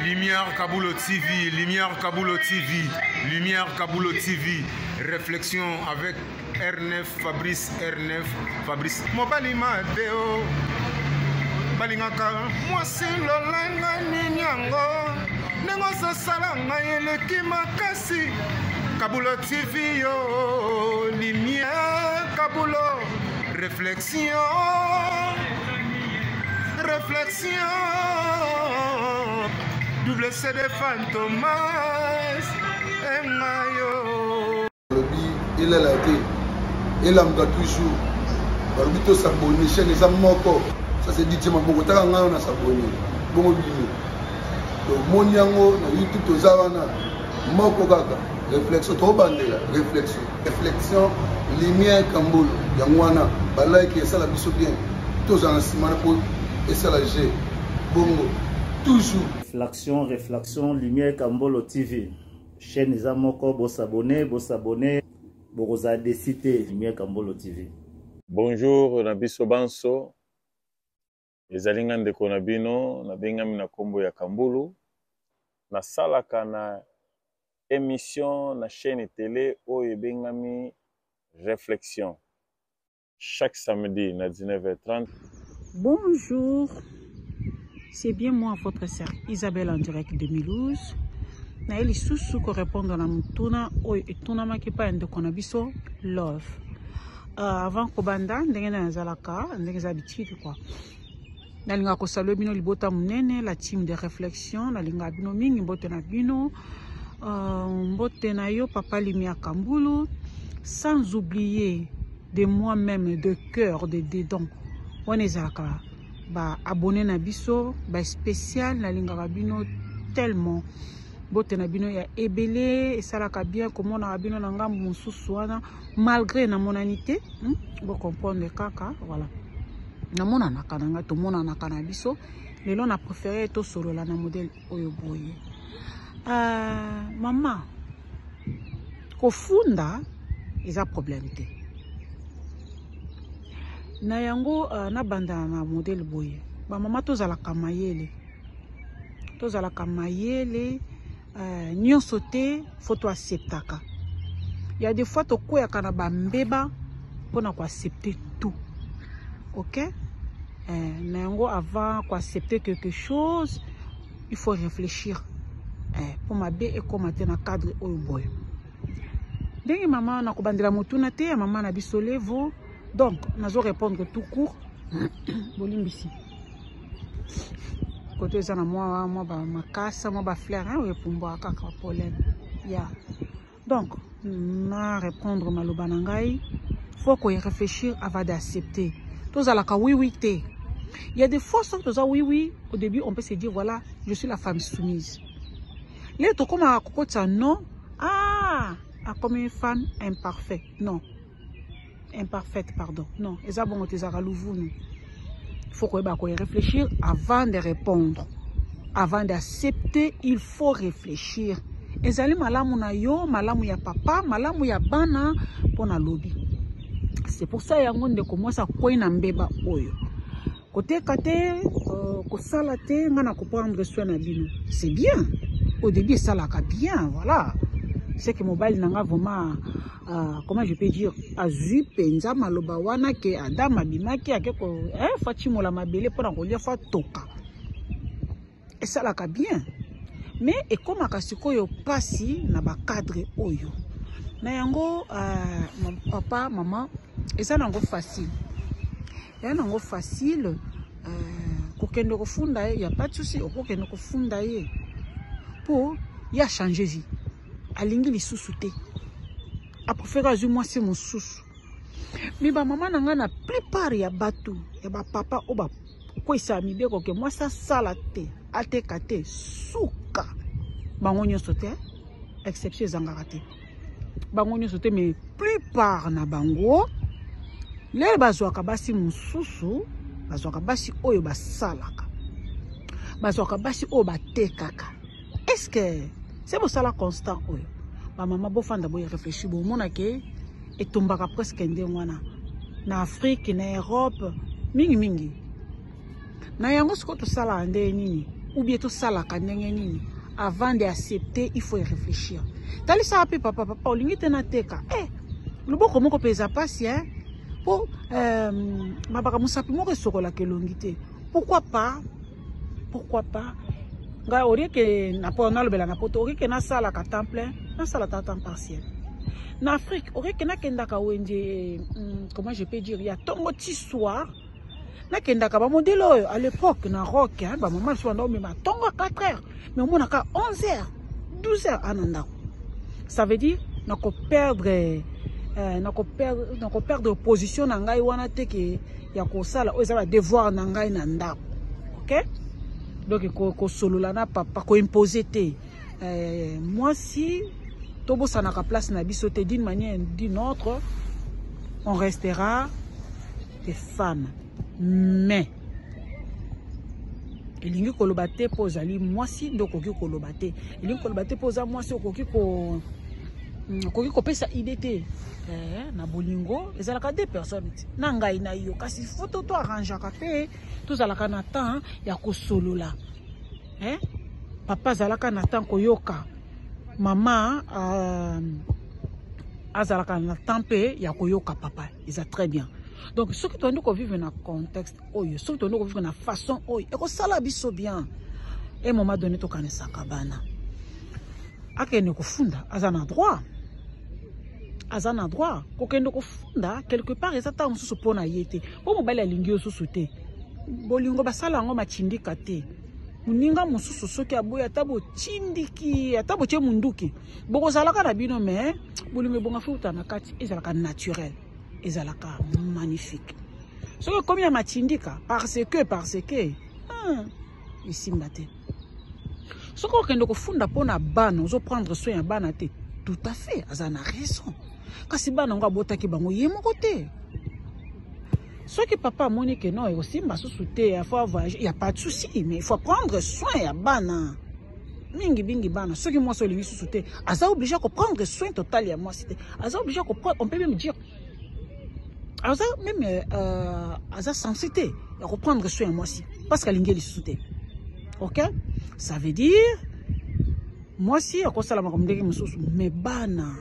Lumière Kabulo TV, Lumière Kabulo TV, Lumière Kabulo TV, réflexion avec R9, Fabrice R9, Fabrice. Mobali Mateo, balingaka mwasi lolanga nini yango ndenge ozosala ngai eleki makasi Kabulo TV yo, Lumière Kabulo, réflexion. Réflexion, double CD Fantomas, et Mayo. Il est là, il est là, toujours. balobi tosabone chaine eza moko ça c'est dit maboko taka ngai wana sabone bongo bino tomoni yango na youtube toza wana moko kaka réflexion tobandela réflexion reflexion lumière kambolo yango wana balike esala biso bien tozala na nsima na po esala je bongo toujours reflexion reflexion lumière kambolo tv chaîne eza moko bosabone bosabone bokozala desi te lumière kambolo tv bonjour na biso banso Ezali nga ndeko na bino nabengami na nkombo ya Kambulu, nasalaka na emission na chaîne tele oyo ebengami Reflexion chaque samedi na 19h30. Bonjour, c'est bien moi votre sœur Isabelle en direct de Milouz. naye lisusu korepondre na motuna oyo etunamaki epai ya ndeko na biso love Uh, avant kobanda ndenge na nazalaka ndenge eza habitude quoi nalingaka kosalue bino libota monene la team de réflexion nalingaka bino mingi mbote na bino uh, mbote na yo papa limia kambulu sans oublier de moi-même de cœur de dedans wana ezalaka baabonne na biso baspécial nalingaka bino tellement mbote na bino ya ebele esalaka bien komonaka bino na ngambo mosusu wana malgré namonani te hmm? bocomprendre kaka voilà namonanaka na ngai tomonanaka na biso lelo na préféré tosolola na modèle oyo boye uh, mama kofunda eza problème te na yango uh, nabandana na modèle boye bamama tozalaka mayele tozalaka mayele eh, nyonso te fo toacceptaka ya de fois tokweyaka na bambeba mpo na koaccepte tout ok eh, na yango avant koaccepte quelque chose il faut réfléchir eh, mpo eh, mabe ekóma te na cadre oyo boye ndenge mama na kobandela motuna te ya mama na biso levo donc nazo répondre tout court bolimbisi koto eza na mwa mwa ba makasa mwa ba fleur hein oyo epumbwa kaka pollen ya donc na répondre maloba na ngai faut ko réfléchir avant d'accepter tozalaka oui oui te il y a des fois soki toza oui oui au début on peut se dire voilà je suis la femme soumise leo tokomaka kokotisa non ah akomi femme imparfait non imparfaite pardon non eza bongo te ezalaka luvunu faut koyeba koye réfléchir avant de répondre avant d'accepter il faut réfléchir ezali malamu na yo malamu ya papa malamu ya bana mpo na lobi c'est pour ça yango ndeko mwasi akwei na mbeba oyo Koteka te, euh, kosala te, nga na comprendre soin na bino. C'est bien. Au début esalaka bien, voilà. C'est que mobile nanga vraiment euh, comment je peux dire azui penza maloba wana ke Adam abimaki ake ko eh fatimola mabele pona kolia fa toka. esalaka bien mais ekomaka sikoyo pasi na ba cadre oyo na yango uh, papa mama eza nango facile eza nango facile uh, kokende kofunda ye ya pas de souci okokende kofunda ye mpo ye achange vie alingi lisusu te aprefere azwi mwasi mosusu mi bamama na ngai na plupart ya bato ya bapapa oyo kokweyisa mibeko ke mwasi asala te ateka te suka bango nyonso te exception ezangaka te bango nyonso te mais plupart na bango lele bazwaka basi mosusu bazwaka basi oyo basalaka bazwaka basi oyo batekaka est ce que se bosala constat oyo bamama bofanda boye réfléchir bomona ke etombaka presque ndenge wana na afrique na europe mingimingi na yango sikoyo tosalaka ndenge nini oubien tosalaka ndenge nini avant de accepter il faut réfléchir talisaka mpe papa papa olingi te nateka e eh, loboko moko mpe eza mpasi e mpo euh, mabaka mosapi moko esokolaka elongi te pourquoi pas pourquoi pas ngai olie ke nalobela na poto olie ke nasalaka temps plein nasala ta temps partiel na afrique olie ke nakendaka wenze hmm, comment je peux dire ya ntongo ti soir nakendaka bamodele oyo à l'époque na rock bamama lisusu banda omema ntongo 4 heures mais omona ka 11 heures 12 heures ana ndako ça veut dire nako perdre euh, nako perdre nako perdre position na ngai wana te ke ya kosala oyo eza ba devoir na ngai na ndako ok donc kosolola ko na papa koimpose te euh, mwasi tobosanaka place na biso te d'une manière d'une autre on restera des femmes mais elingi koloba te mpo ozali mwasi nde okoki koloba te elingi koloba te mpo oza mwasi okoki ko mm, okoki kopesa ide te eh, na bolingo ezalaka de personne te na ngai na yo kasi foto to arrangeaka mpe tozalaka na temps ya kosolola eh? papa azalaka na temps koyoka mama uh, azalaka na temps mpe ya koyoka papa eza très bien donc soki tondi kovivre na contexte oyo soki tondi kovivre na façon oyo ekosala biso bien e moment donné tokanisaka bana akende kofunda aza na droit aza na droit kokende kofunda quelque part eza ntango mosusu mpo na ye te mpo mobali alingi yo susu te bolingo basala yango matindika te moninga mosusu soki aboyi ata botindiki ata botye monduki bokozalaka na bino me bolingo ebonga futa na kati ezalaka naturel ezalaka magnifique soki ekomi ya matindika parce que parce que ah, esimba te soki okende kofunda mpo na bana ozoprendre soin ya bana te tout à fait aza na raison kasi bana yango abotaki bango ye moko te soki papa amoni ke non ekosimba susu te il faut voyage il n'y a pas de souci mais il faut prendre soin ya bana mingi mingi bana soki mwasi olingi susu te aza oblige ya koprendre soin total ya mwasi te aza oblige ya koprendre on peut même dire aza même euh, euh aza sensi te ya koprendre soin ya mwasi parce que alingi ye lisusu te ok ça veut dire mwasi akosala makambo ndenge mosusu me bana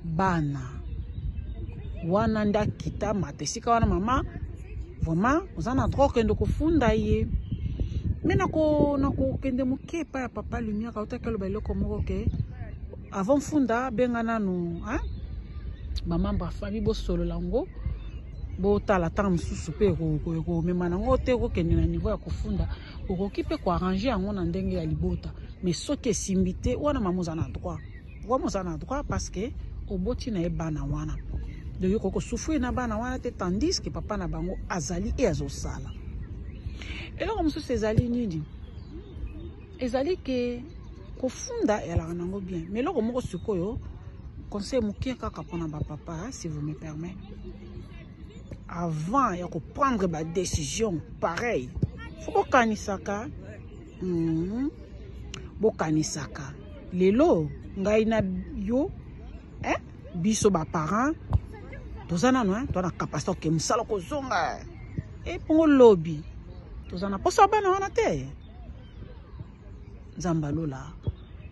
bana wana nde akita mata esika wana mama Vraiment, oza na droit okende kofunda ye. Mais nako nako kende moke pa ya papa lumière auta kelo ba eloko moko ke avant funda benga nanu hein ba membre famille bo solo lango bo tala temps mususu pe ko ko ko mema nango te ko kende na niveau ya kofunda okoki pe ko arranger yango na ndenge ya libota mais soki esimbi te wana mamoza na droit Vraiment oza na droit parce que oboti na ye bana wana donc yo koko souffrir na bana wana te tandis que papa na bango azali e azosala eloko mosusu ezali nini ezali ke kofunda eyalaka nango bien mais eloko moko sikoyo conseil moke kaka mpona bapapa si vous me permet avant ya koprendre badécision pareil fo kokanisaka mm. bokanisaka lelo ngai na yo eh? biso baparent toza nano eh? toza na kapasite oke mosala kozonga eh? ebongo eh, lobi toza na mposa bana wana te nzambe alola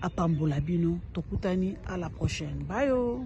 apambola bino tokutani a la prochaine bayo